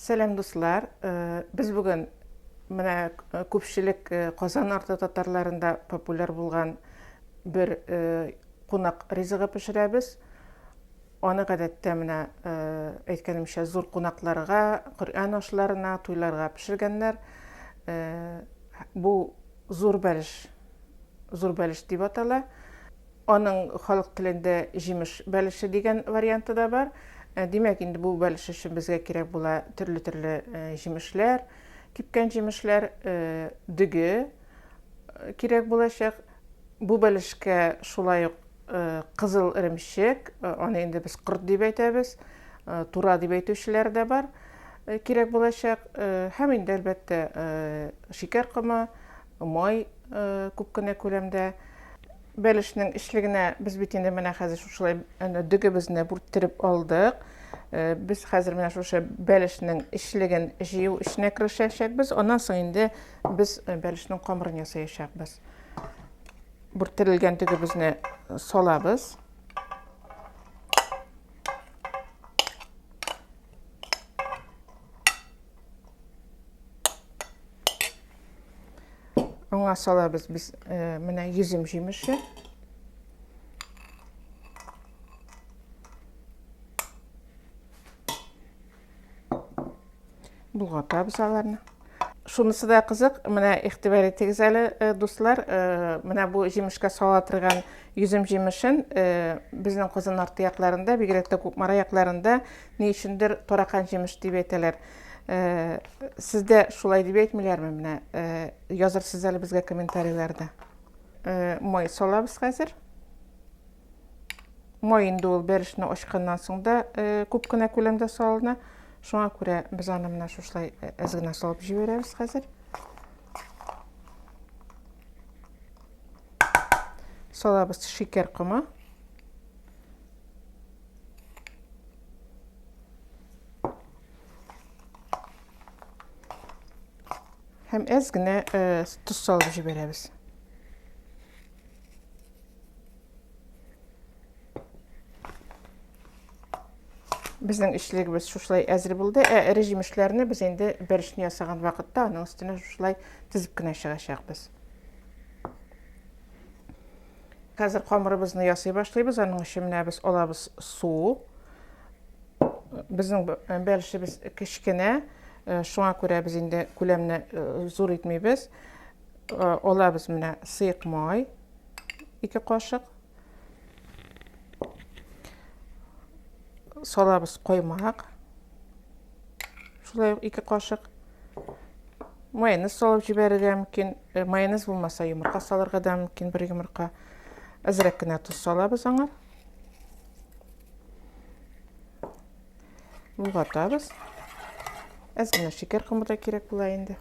Сәлам дуслар! Без бүген менә күпчелек Казан арты татарларында популяр булган бер кунак ризыгы пешерәбез. Аны гадәттә менә әйткәнемчә зур кунакларга, Коръән ашларына, туйларга пешергәннәр. Бу зур бәлеш, зур бәлеш дип атала. Аның халык телендә җимеш бәлеше дигән варианты да бар. Димәк, инде бу бәлеш өчен безгә кирәк була төрле-төрле җимешләр, кипкән җимешләр, дөге кирәк булачак. Бу бәлешкә шулай ук кызыл эремчек, аны инде без корт дип әйтәбез, тура дип әйтүчеләр дә бар, кирәк булачак. Һәм инде, әлбәттә, шикәр комы, Май күп кенә күләмдә бәлешнең эчлегенә без бит инде менә хәзер шушылай әнә дөгебезне бүрттереп алдык. Э, без хәзер менә шушы бәлешнең эчлеген җыю эшенә керешәчәкбез. Аннан соң инде без э, бәлешнең камырын ясаячакбыз. Бүрттерелгән дөгебезне салабыз. Аңа салабыз без э, менә йөзем җимеше. Болгатабыз аларны. Шунысы да кызык, менә игътибар итегез әле, э, дуслар, э, менә бу җимешкә сала торган йөзем җимешен безнең Казан арты якларында, бигрәк тә Кукмара якларында Ни өчендер таракан җимеш дип әйтәләр. Сездә шулай дип әйтмиләрме? Менә язырсыз әле безгә комментарийларда. Май салабыз хәзер. Май инде ул бәрешне ачканнан соң да күп кенә күләмдә салына. Шуңа күрә без аны менә шушылай әз генә салып җибәрәбез хәзер. Салабыз шикәр комы. Һәм әз генә э, тоз салып җибәрәбез. Безнең эчлегебез шушылай әзер булды. Ә эре җимешләрне без инде бәршне ясаган вакытта аның өстенә шушылай тезеп кенә чыгачакбыз. Хәзер камырыбызны ясый башлыйбыз. Аның өчен менә без алабыз су. Безнең бәлешебез кечкенә, э, шуңа күрә без инде күләмне э, зур итмибез. Э, алабыз менә сыек май, ике кашык. Салабыз коймак. Шулай ук ике кашык майонез салып җибәрергә мөмкин. Э, майонез булмаса, йомырка салырга да мөмкин, бер йомырка. Әзрәк кенә тоз салабыз аңа. Булгатабыз. Әз генә шикәр комы да кирәк була инде.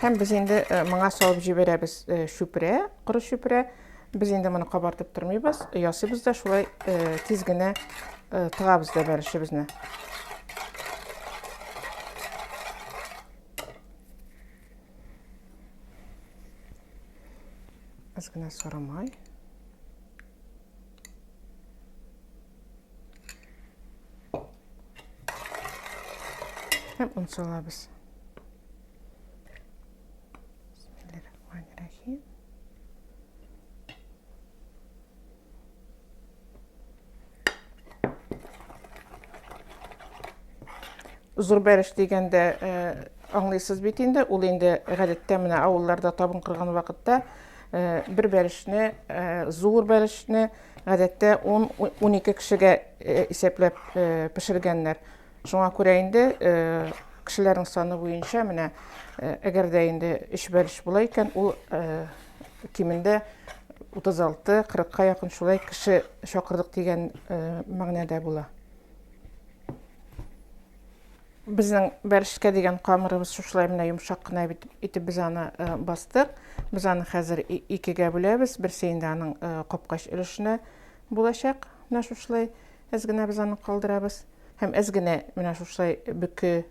Һәм без инде э, моңа салып җибәрәбез э, чүпрә, коры чүпрә. Без инде моны кабартып тормыйбыз, ясыйбыз да шулай э, тиз генә тыгабыз да бәлешебезне. Аз гына сары май. һәм он салабыз зур бәреш дигәндә аңлыйсыз бит инде ул инде гадәттә менә авылларда табын кырган вакытта Бер бәлешне, зур бәлешне, гадәттә 10-12 кешегә исәпләп пешергәннәр. Шуңа күрә инде кешеләрнең саны буенча менә әгәр дә инде 3 бәлеш була икән, ул кимендә 36-40ка якын шулай кеше чакырдык дигән мәгънәдә була. Безнең бәрчеткә дигән камырыбыз шушылай менә йомшак кына итеп без аны э, бастык. Без аны хәзер икегә бүләбез. Берсе инде аның э, капкач өлешенә булачак. Менә шушылай әз генә без аны калдырабыз. Һәм әз генә менә шушылай бөке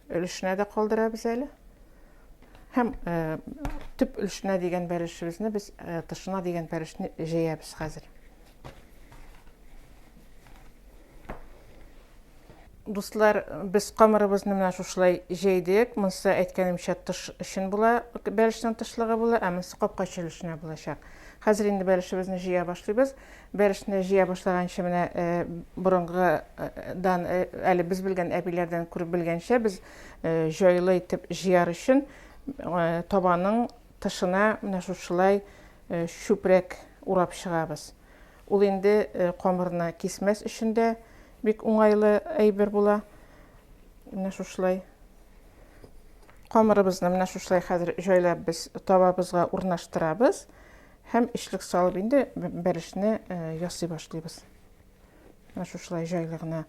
өлешенә дә калдырабыз әле. Һәм э, төп өлешенә дигән бәлешебезне без э, тышына дигән бәлешне җәябез хәзер. Дуслар, без камырыбызны менә шушылай җәйдек. Монсы, әйткәнемчә, тыш өчен була, бәлешнең тышлыгы була, ә монсы капка өчен эченә булачак. Хәзер инде бәлешебезне җыя башлыйбыз. Бәлешне җыя башлаганчы менә борынгыдан, әле без белгән әбиләрдән күреп белгәнчә, без җайлы итеп җыяр өчен табаның тышына менә шушылай чүпрәк урап чыгабыз. Ул инде камырны кисмәс өчен дә бик уңайлы әйбер була. Менә шушылай. Камырыбызны менә шушылай хәзер җайлап без табабызга урнаштырабыз һәм эчлек салып инде бәрешне э, ясый башлыйбыз. Менә шушылай җайлы гына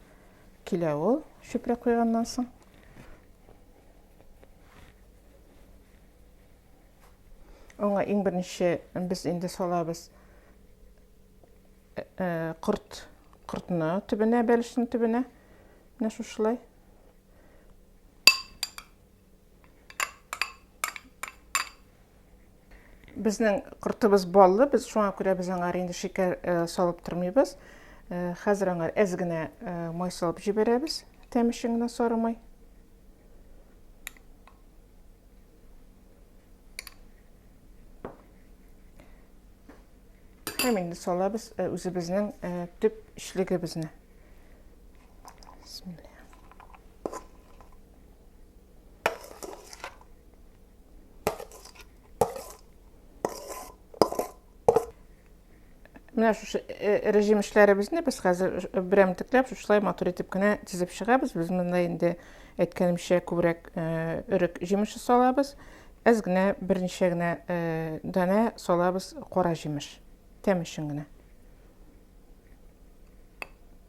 килә ул чүпрәк куйганнан соң. Аңа иң беренче без инде салабыз корт, кортны төбенә, бәлешнең төбенә. Менә шушылай. Безнең кортыбыз баллы, без шуңа күрә без аңар инде шикәр салып тормыйбыз. Хәзер аңар әз генә май салып җибәрәбез, тәмешен генә сарымай. Һәм инде салабыз э, үзебезнең э, төп эчлегебезне. Бисмилла. Менә шушы э, режим эшләребезне без хәзер э, берәмтекләп шушылай матур итеп кенә тизеп чыгабыз. Без монда инде әйткәнемчә күбрәк э, өрек җимеше салабыз. Әз генә берничә генә данә салабыз кара җимеш. Тәм өчен генә.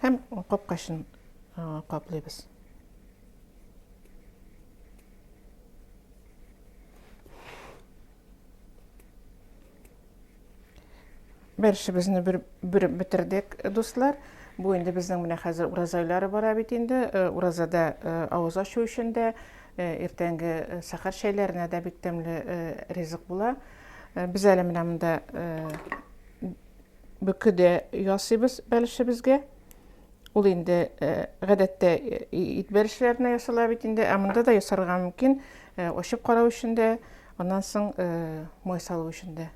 Һәм капкачын каплыйбыз. Бер шебезне бер бер бетердек, дуслар. Бу инде безнең менә хәзер ураза айлары бара бит инде. Э, уразада э, авыз ачу өчен дә, э, иртәнге сахар чәйләренә дә бик тәмле ризык була. Э, без әле менә монда э, бөкеде ясыйбыз бәлешебезгә. Ул инде э, гадәттә ит бәлешләренә ясала бит инде, ә монда да ясарга мөмкин. Очып карау өчен дә, аннан соң май салу өчен дә.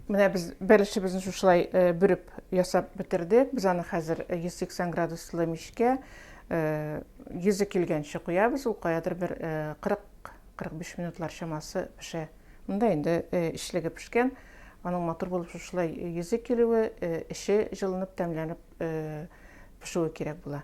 Менә без бәлешебезне шушылай бүреп ясап бетердек. Без аны хәзер 180 градуслы мичкә йөзе килгәнче куябыз. Ул каядыр бер 40 45 минутлар чамасы пешә. Монда инде эчлеге пешкән. Аның матур булып шушылай йөзе килүе, эче җылынып, тәмләнеп пешүе кирәк була.